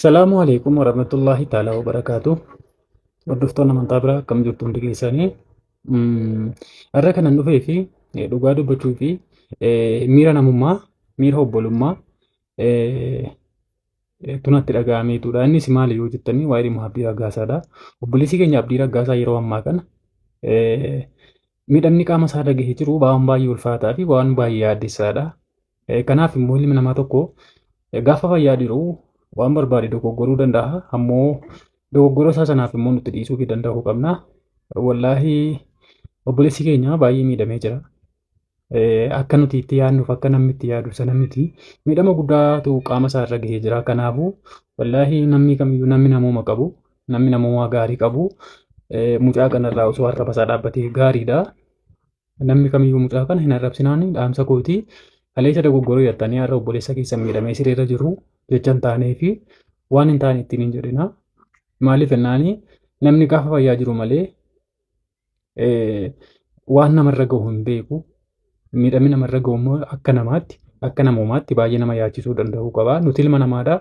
Salaamu alaikum warahmatullahi ta'ala wabarakaatu. Hordoftoonni amantaa biraa akkam jirtu hundi keessanii. Har'a kanan dhufee fi dhugaa dubbachuu fi miira namummaa, miira obbolummaa tunatti dhaga'ameetudha. Innis maali yoo jettanii waa'ee dhimma Abdii Raggaasaadha. Obboleessi keenya Abdii Raggaasaa yeroo ammaa kana miidhamni qaama isaa dhagahee jiru waan baay'ee ulfaataa fi waan baay'ee yaaddessaadha. Kanaaf immoo ilmi namaa tokko gaafa fayyaa jiru waan barbaade dogoggoruu danda'a. Ammoo dogoggora isaa sanaaf immoo nuti dhiisuu fi danda'uu qabna. Wallaahi obboleessi keenya baay'ee miidhamee jira. Akka nuti itti yaadnuuf akka namni itti yaadu sana miti. Miidhama guddaatu qaama isaa irra gahee jira. Kanaafuu wallaahi namni kamiyyuu namni namooma qabu namni namooma gaarii qabu mucaa kanarraa osoo harka basaa dhaabbatee gaariidha. Namni kamiyyuu mucaa kana hin arrabsinaanii dhaamsa kooti. Kaleessa dogoggoruu yattanii har'a obboleessa keessa miidhamee sireerra jiru jecha hin taanee fi waan hin taane ittiin hin jedhina. Maaliif jennaanii namni gaafa fayyaa jiru malee waan namarra gahu hin beeku. Miidhamni namarra gahu immoo akka namaatti akka namoomaatti baay'ee nama yaachisuu danda'uu qaba. Nuti ilma namaadha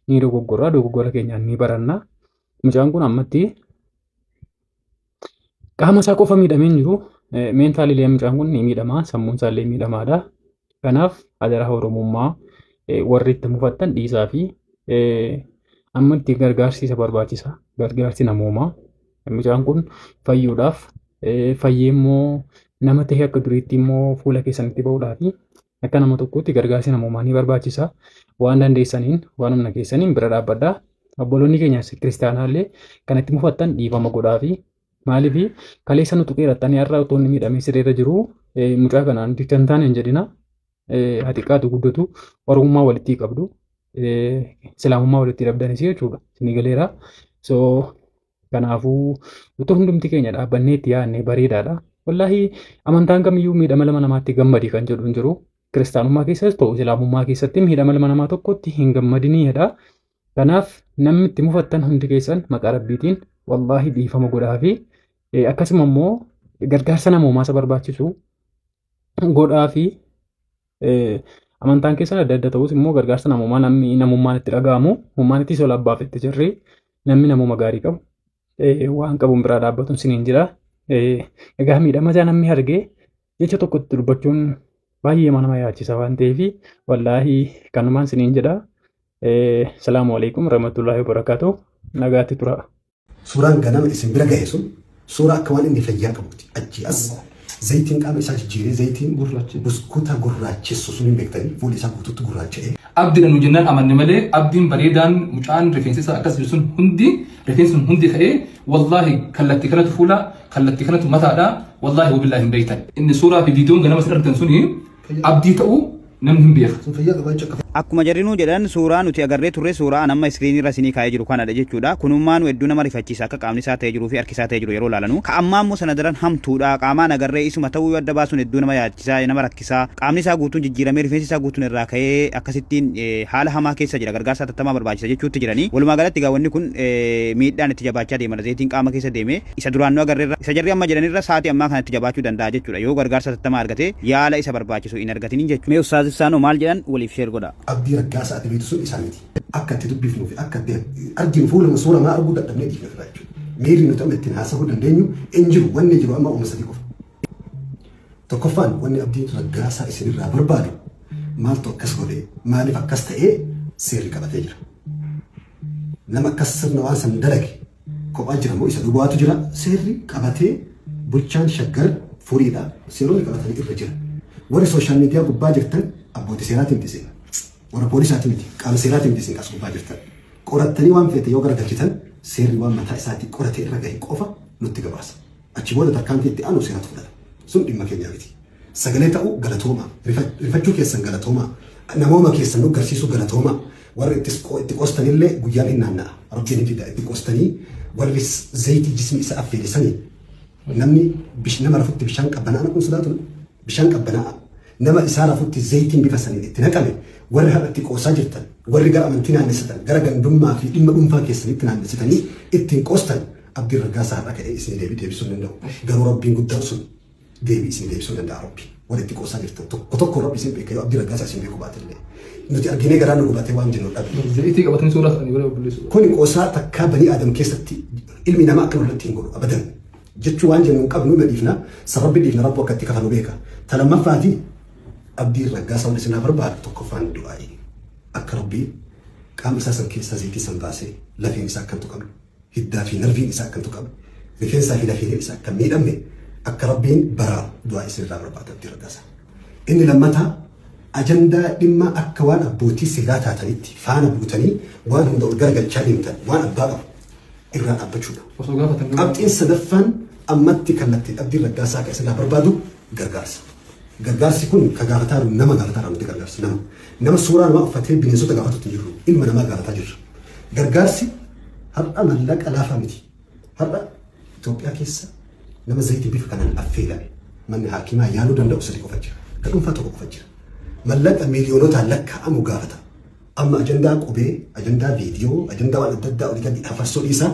ni dogoggorra dogoggora keenyaan ni baranna. Mucaan kun ammatti Qaama isaa qofa miidhamee hin jiru. Meentaalii illee mucaan kun ni miidhama. Sammuun isaa illee miidhamaadha. Kanaaf adaraa Oromummaa warri itti mufattan dhiisaa fi amma itti gargaarsi isa barbaachisa. Gargaarsi namoomaa. Mucaan kun fayyuudhaaf fayyee immoo nama ta'e akka duriitti immoo fuula keessanitti ba'uudhaaf Akka nama tokkootti gargaarsi namoomaa ni barbaachisa. Waan dandeessaniin, waan humna keessaniin bira dhaabbadhaa. Obboloonni keenya kiristaanaa illee kan itti mufattan dhiifama godhaafi. Maaliif kaleessa nu tuqeerattanii har'a otoo inni miidhamee sireerra jiru mucaa kana nuti kan taane hin jedhina. Haa xiqqaatu guddatu oromummaa walitti qabdu. Islaamummaa walitti dhabdanis jechuudha. Isinii galeera. So Kanaafuu utuu hundumti keenya dhaabbannee itti yaadne bareedaadha. Wallaahi amantaan kamiyyuu miidhama lama namaatti gammadi kan jedhu hin jiru. Kiristaanummaa keessas ta'u Islaamummaa keessatti miidhama lama namaa tokkotti hin gammadinii jedha. Kanaaf namni itti mufattan hundi keessan maqaa rabbiitiin wallaahi dhiifama godhaa fi akkasuma immoo gargaarsa namoomaa isa barbaachisu godhaa fi Amantaan keessan adda adda ta'us immoo gargaarsa namoomaa namni namummaan itti dhaga'amu hummaan itti sola abbaaf itti jirri namni namuma gaarii qabu waan qabuun biraa dhaabbatuun siniin jira. Egaa miidhama isaa namni arge jecha tokkotti dubbachuun baay'ee nama yaachisa waan ta'eef wallaahi kanumaan siniin jedha. Salaamu alaikum warahmatullahi wabarakatuh. Nagaatti tura. Suuraan ganama isin bira gahe sun suuraa akka waan inni fayyaa qabuuti. Achii as zayitiin qaama isaa jijjiiree zayitiin Gurraacha. buskuuta gurraachessu sun hin beektanii fuulli isaa guutuutti gurraacha'ee Abdiidha nu jennaan amanne malee abdiin bareedaan mucaan rifeensi isaa akkas jiru sun hundi rifeensi sun hundi ka'ee wallaahi kallattii kanatu fuula kallattii kanatu mataadha wallaahi wabillaahi hin beektan inni suuraa fi viidiyoon ganama isin argitan suni abdii ta'uu namni hin beeka. Akkuma jarri nuu jedhan suuraa nuti agarree turre suuraa an amma screen irra isinii kaa'ee jiru kanadha jechuudha. Kunummaanu hedduu nama rifachiisa akka qaamni isaa ta'ee jiruufi harki isaa ta'ee jiru yeroo ilaalanu. Ka ammaa immoo sana daran hamtuudha. Qaamaan agarree isuma ta'uu yoo adda baasun hedduu nama yaadachisa, nama rakkisa. Qaamni isaa guutuun jijjiiramee rifeensi isaa guutuun irraa ka'ee akkasittiin haala hamaa keessa jira. Gargaarsa hatattamaa barbaachisa jechuutti jirani. Walumaa galatti egaa wanni kun miidhaan itti jabaachaa deemadha. Zayitiin qaama keessa deeme. Isa duraan nu agarrerra, isa jarri amma jedhanirra saati ammaa kanatti jabaachuu danda'a jechuudha yoo gargaarsa hatattamaa argate yaala isa barbaachisu hin argatinin jechuudha. Mee Ustaaz Ibsaanoo maal jedhan waliif share godhaa. Abdii Raggaasaa ati beektu sun isaa miti. Akka itti dubbifnuu fi akka itti arginu fuuluma suura maa arguu dadhabnee dhiifne ofirraa jechuudha. Miirri nuti amma ittiin haasahuu dandeenyu hin jiru wanni jiru amma wama sadii qofa. Tokkoffaan wanni Abdiin Raggaasaa isinirraa barbaadu maaltu akkas godhe maaliif akkas ta'ee seerri qabatee jira. Nama akkas sirna waan san dalage Kophaa jira moo isa duwwaatu jira? Seerri qabatee bulchaan Shaggar furiidha. Seeronni qabatanii irra jira. Warri social media gubbaa jirtan abbooti seeraati miti isin. Warra poolisaati miti. Qaama seeraati miti isin as gubbaa jirtan. Qorattanii waan feete yoo garagalchitan seerri waan mataa isaati qorate irra gahe qofa nutti gabaasa. Achi booda tarkaanfii itti aanu seeratu fudhata. Sun dhimma keenyaa miti. Sagalee ta'uu galatoomaa. Rifa- Rifachuu keessan galatoomaa. Namooma keessan nu garsiisuu galatoomaa. Warri ittis qo- itti qostanillee guyyaan hin naanna'a. Rabbiin hin fida. Itti qostanii warri s- zayitii jismii isa affeele sanii namni bish- nama rafutti bishaan qabbanaa dhaquun sodaatu Bishaan qabbanaa'aa nama isaa rafutti zayitiin bifa saniin itti naqame warri har'a itti qoosaa jirtan, warri gara amantii naannessitan, gara gandummaa fi dhimma dhuunfaa keessanitti naannessitanii ittiin qoostan Abdiin Raggaasaa har'a ka'ee isinii deebii deebisuu hin danda'u. Garuu Rabbiin guddaan sun deebii isinii deebisuu danda'a Rabbi. Warri itti qoosaa jirtan tokko tokko Rabbi isin beeka yoo Abdii Raggaasaa isin beeku baate illee. Nuti arginee garaa nu gubatee waan jennu dhabe. Zayitii qabatanii suuraa isaanii bira obboleessu. Kuni qoosaa takkaa banii aadam keessatti ilmi namaa akka nurratti hin godhu abadan. jechuu waan jennu hin qabnu na dhiifna sababbi dhiifna rabbu akka itti kafalu beeka ta lammaffaati abdiin raggaasa wal isinaa barbaadu tokkoffaan du'aa'i akka rabbii qaama isaa san keessaa zeetii san baasee lafeen isaa akkan tuqamu hiddaa fi narviin isaa akkan tuqamu rifeensaa fi lafeen isaa akkan miidhamne akka rabbiin baraa du'aa isin irraa barbaadu abdiin raggaasa inni lammataa ajandaa dhimma akka waan abbootii seeraa taatanitti faana buutanii waan hunda ol garagalchaa deemtan waan abbaa qabu irraa dhaabbachuudha. Osoo gaafatan garuu Qabxiin sadaffaan ammatti kallattiin abdiin raggaasaa akka isinirraa barbaadu gargaarsa. Gargaarsi kun ka gaafataa jiru nama gaafataa irraa nuti gargaarsa nama. Nama suuraa namaa uffatee bineensota gaafatutti hin jirru. Ilma namaa gaafataa jirra. Gargaarsi har'a mallaqa laafaa miti. Har'a Itoophiyaa keessa nama zayitii bifa kanaan affeelame manni haakimaa yaaluu danda'u sadii qofa jira. Ka dhuunfaa tokko qofa jira. Mallaqa miiliyoonotaan lakkaa'amu gaafata. Amma ajandaa qubee, ajandaa viidiyoo, ajandaa waan adda addaa olitatti hafarsuu dhiisaa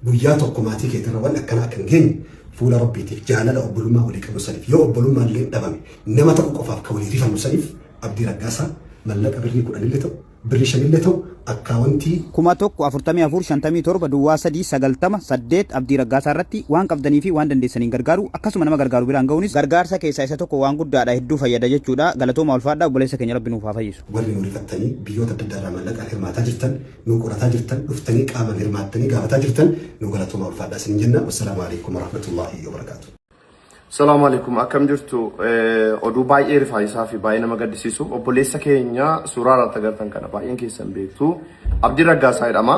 guyyaa tokko maatii keetirra waan akkanaa akka hin geenye fuula rabbiitiif jaalala obbolummaa walii qabnu saniif yoo obbolummaa illee dhabame nama ta'u qofaaf kan walii rifannu saniif abdii raggaasaa mallaqa birrii kudhan illee ta'u birrii shan illee ta'u akkaawantii kuma tokko afurtamii afur shantamii torba duwwaa sadii sagaltama saddeet abdii raggaasaa irratti waan qabdanii fi waan dandeessaniin gargaaru akkasuma nama gargaaru biraan ga'uunis gargaarsa keessaa isa tokko waan guddaadha hedduu fayyada jechuudha galatoomaa ulfaadha obboleessa keenya rabbi nuuf haa fayyisu. Warri nu rifattanii biyyoota adda addaa irraa maallaqaan hirmaataa jirtan, nu qorataa jirtan, dhuftanii qaamaan hirmaattanii gaafataa jirtan nu galatoomaa ulfaadhaa isiniin jenna. Wassalaamu alaikum warahmatullaahi wabarakaatu. Salaamu alaikum akkam jirtu oduu baay'ee rifaayisaa fi baay'ee nama gaddisiisu obboleessa keenya suuraa irratti agartan kana baay'een keessan beektu Abdii Raggaasaa jedhama.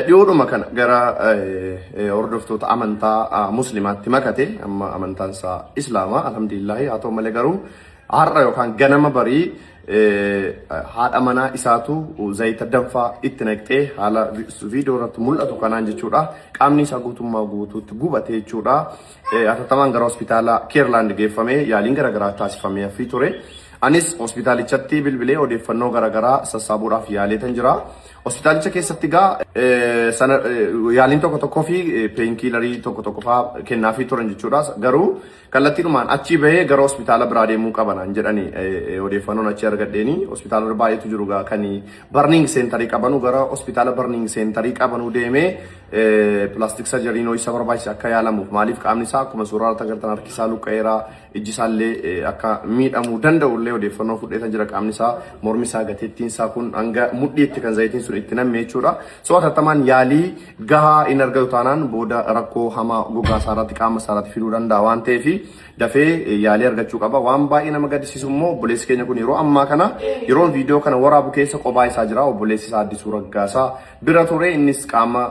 Dhiyoodhuma kana gara hordoftoota amantaa muslimaatti makate amma amantaan isaa islaama alhamdulillahi haa ta'u malee garuu har'a yookaan ganama barii haadha manaa isaatu zayita danfaa itti naqxee haala viidiyoo irratti mul'atu kanaan jechuudha qaamni isaa guutummaa guutuutti gubate jechuudha hatattamaan gara hospitaala keerlaand geeffamee yaaliin garaagaraa taasifamee hafii ture. Anis hospitaalichatti bilbilee odeeffannoo garaagaraa sassaabuudhaaf yaaleetan jira. Hospitaalicha keessatti egaa sana yaaliin tokko tokkoo fi peenkiilarii tokko tokko fa'aa kennaafii turan jechuudha. Garuu kallattiidhumaan achii bahee gara hospitaala biraa deemuu qabanaan jedhani odeeffannoon achii argadheeni. Hospitaala baay'eetu jiru egaa kan barniing seentarii qabanu gara hospitaala barniing seentarii qabanuu deemee pilaastik sarjariinoo isa barbaachisa akka yaalamuuf maaliif qaamni isaa akkuma suuraa irratti agartan harki isaa luqqa'eera. ijji isaallee akka miidhamuu danda'u illee odeeffannoo fudheetan jira qaamni isaa mormi isaa gateettiin isaa kun hanga mudhiitti kan zayitiin sun itti namme jechuudha. So atattamaan yaalii gahaa hin argatu taanaan booda rakkoo hamaa gogaa isaa irratti qaama isaa irratti fiduu danda'a waan ta'eef dafee yaalii argachuu qaba. Waan baay'ee nama gaddisiisu immoo obboleessi keenya kun yeroo ammaa kana yeroon viidiyoo kana waraabu keessa qophaa isaa jira obboleessi isaa addisuu raggaasaa bira ture innis qaama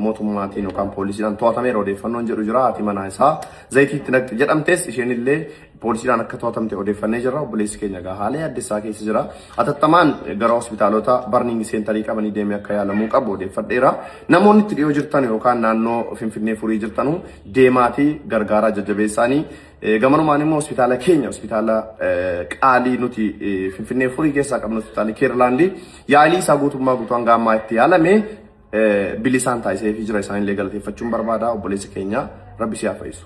mootummaatiin yookaan poolisiidhaan to'atameera odeeffannoon jedhu jira haati manaa isaa Zayitii itti naqxi jedhamtees isheenillee poolisiidhaan akka to'atamte odeeffannee jirra. Obboleessi keenya egaa haala yaaddessaa keessa jira. Atattamaan gara hospitaalota barniingi seentarii qabanii deemee akka yaalamuu qabu odeeffadheera. Namoonni itti dhiyoo jirtan yookaan naannoo Finfinnee furii jirtanu deemaatii gargaaraa jajjabeessaanii. Eh, Gamanumaan immoo hospitaala keenya hospitaala eh, qaalii nuti eh, Finfinnee furii keessaa qabnu hospitaali Keerlaandii yaalii isaa guutummaa guutuu hanga ammaa itti yaalame bilisaan taasisee fi jira isaanillee galateeffachuun barbaada obboleessa keenya rabbi siyaa fayyisu.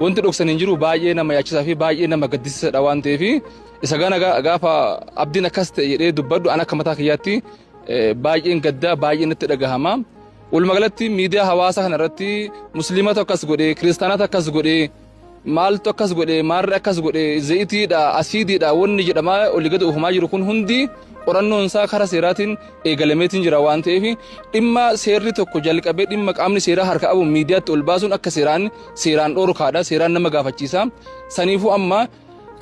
Wanti dhoksan hin jiru baay'ee nama yaachisaa fi baay'ee nama gaddisiisadha waan ta'eef isa gana gaafa abdiin akkas ta'e jedhee dubbadhu an akka mataa kiyyaatti baay'een gaddaa baay'een natti dhagahama. Walumaa galatti miidiyaa hawaasaa kana irratti musliimatu akkas godhe kiristaanatu akkas godhe maaltu akkas godhe maarri akkas godhe zayitiidha asiidiidha wanni jedhamaa olii gadi oofamaa jiru kun hundi qorannoon isaa karaa seeraatiin eegalameetiin jira waan ta'eef dhimma seerri tokko jalqabee dhimma qaamni seeraa harka qabu miidiyaatti ol baasuun akka seeraan seeraan dhorkaadha seeraan nama gaafachiisa saniifuu amma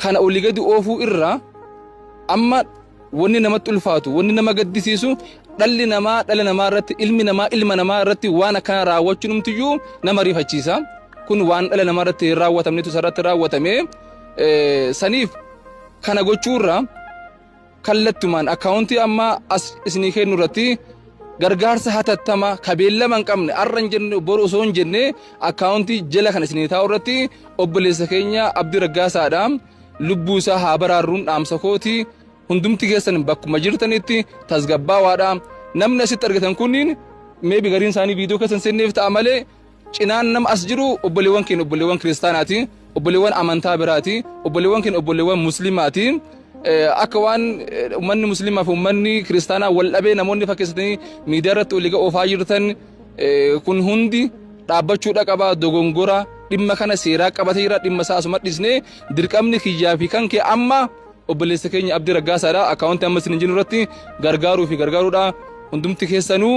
kana olii gadi oofuu irraa amma wanni namatti ulfaatu wanni nama gaddisiisu dhalli namaa dhala namaa irratti ilmi namaa ilma namaa irratti waan akkana raawwachuun umtiyyuu nama rifachiisa kun waan dhala namaa irratti hin raawwatamnetu isarratti raawwatame saniif kana gochuurraa kallattumaan akkaawuntii amma as isinii kennu irratti gargaarsa hatattama kabeellama hin qabne arra hin jenne boru osoo hin jenne akkaawuntii jala kan isinii taa'u irratti obboleessa keenya Abdii Raggaasaadha lubbuu isaa haa baraarruun dhaamsa kooti hundumti keessan bakkuma jirtanitti tasgabbaawaadha namni asitti argitan kunniin meebi gariin isaanii viidiyoo keessan seenneef ta'a malee Cinaan nama as jiru obboleewwan keenya obboleewwan kiristaanaati, obboleewwan amantaa biraati, obboleewwan keenya obboleewwan musliimaati. Akka waan uummanni musliimaa fi uummanni kiristaanaa wal dhabee namoonni fakkeessatanii miidiyaa irratti waliiga oofaa jirtan kun hundi dhaabbachuu dhaqabaa dogongora dhimma kana seeraa qabatee jira dhimma isaa asuma dhisnee dirqamni kiyyaa fi kan kee amma obboleessa keenya abdii raggaasaadha akkaawuntii amma isin hin jiru irratti gargaaruu fi gargaaruudha hundumti keessanuu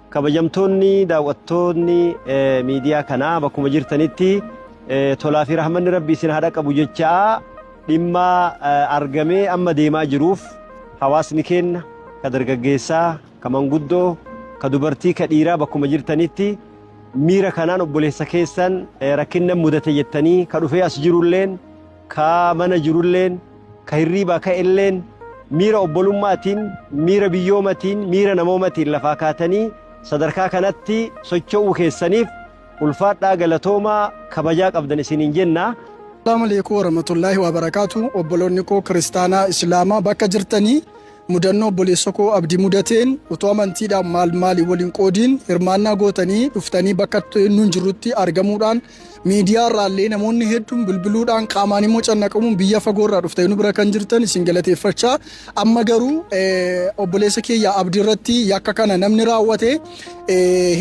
Kabajamtoonni daawwattoonni miidiyaa kanaa bakkuma jirtanitti tolaa fi rahmanni rabbi isin haa dhaqqabu jechaa dhimma argamee amma deemaa jiruuf hawaasni keenya ka dargaggeessaa ka manguddoo ka dubartii ka dhiiraa bakkuma jirtanitti miira kanaan obboleessa keessan rakkinna mudate jettanii ka dhufee as jirulleen Ka mana jirulleen, ka hirriibaa ka'elleen, miira obbolumma'atiin, miira biyyoomatiin, miira namoomatiin lafaa kaatanii sadarkaa kanatti socho'uu keessaniif ulfaadhaa galatoomaa kabajaa qabdan isiniin jenna. Assalaamu Aleeykum Warahmatullaahi Wabarakaatu Obboloonni koo Kiristaanaa Islaamaa bakka jirtanii mudannoo obboleessa koo abdii mudateen utuu amantiidhaan maal maali waliin qoodiin hirmaannaa gootanii dhuftanii bakka nuun jirrutti argamuudhaan miidiyaa irraallee namoonni hedduun bilbiluudhaan qaamaan immoo cannaqamuun biyya fagoo irraa dhuftee nu bira kan jirtan isin galateeffachaa amma garuu obboleessa keenya abdii irratti yakka kana namni raawwate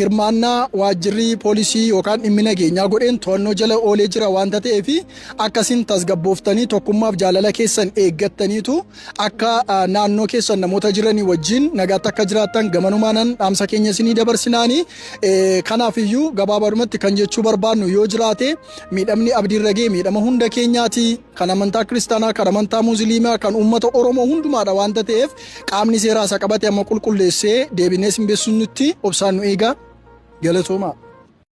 hirmaannaa waajjirri poolisii yookaan dhimmi nageenyaa godheen to'annoo jala oolee jira waan ta'eef akkasiin tasgabbooftanii tokkummaaf jaalala keessan eeggattaniitu Akka naannoo keessan namoota jiranii wajjin nagaatti akka jiraattan gamanumaanan dhaamsa keenya isinii dabarsinaani. Kanaaf iyyuu gabaabadumatti kan jechuu barbaadnu yoo jiraate miidhamni abdiirra ga'e miidhama hunda keenyaati. Kan amantaa kiristaanaa, kan amantaa musliimaa, kan uummata Oromoo hundumaadha waanta ta'eef qaamni seeraa isa qabate amma qulqulleessee deebinee isin beeksisutti obsaan nu eegaa. Galatoomaa.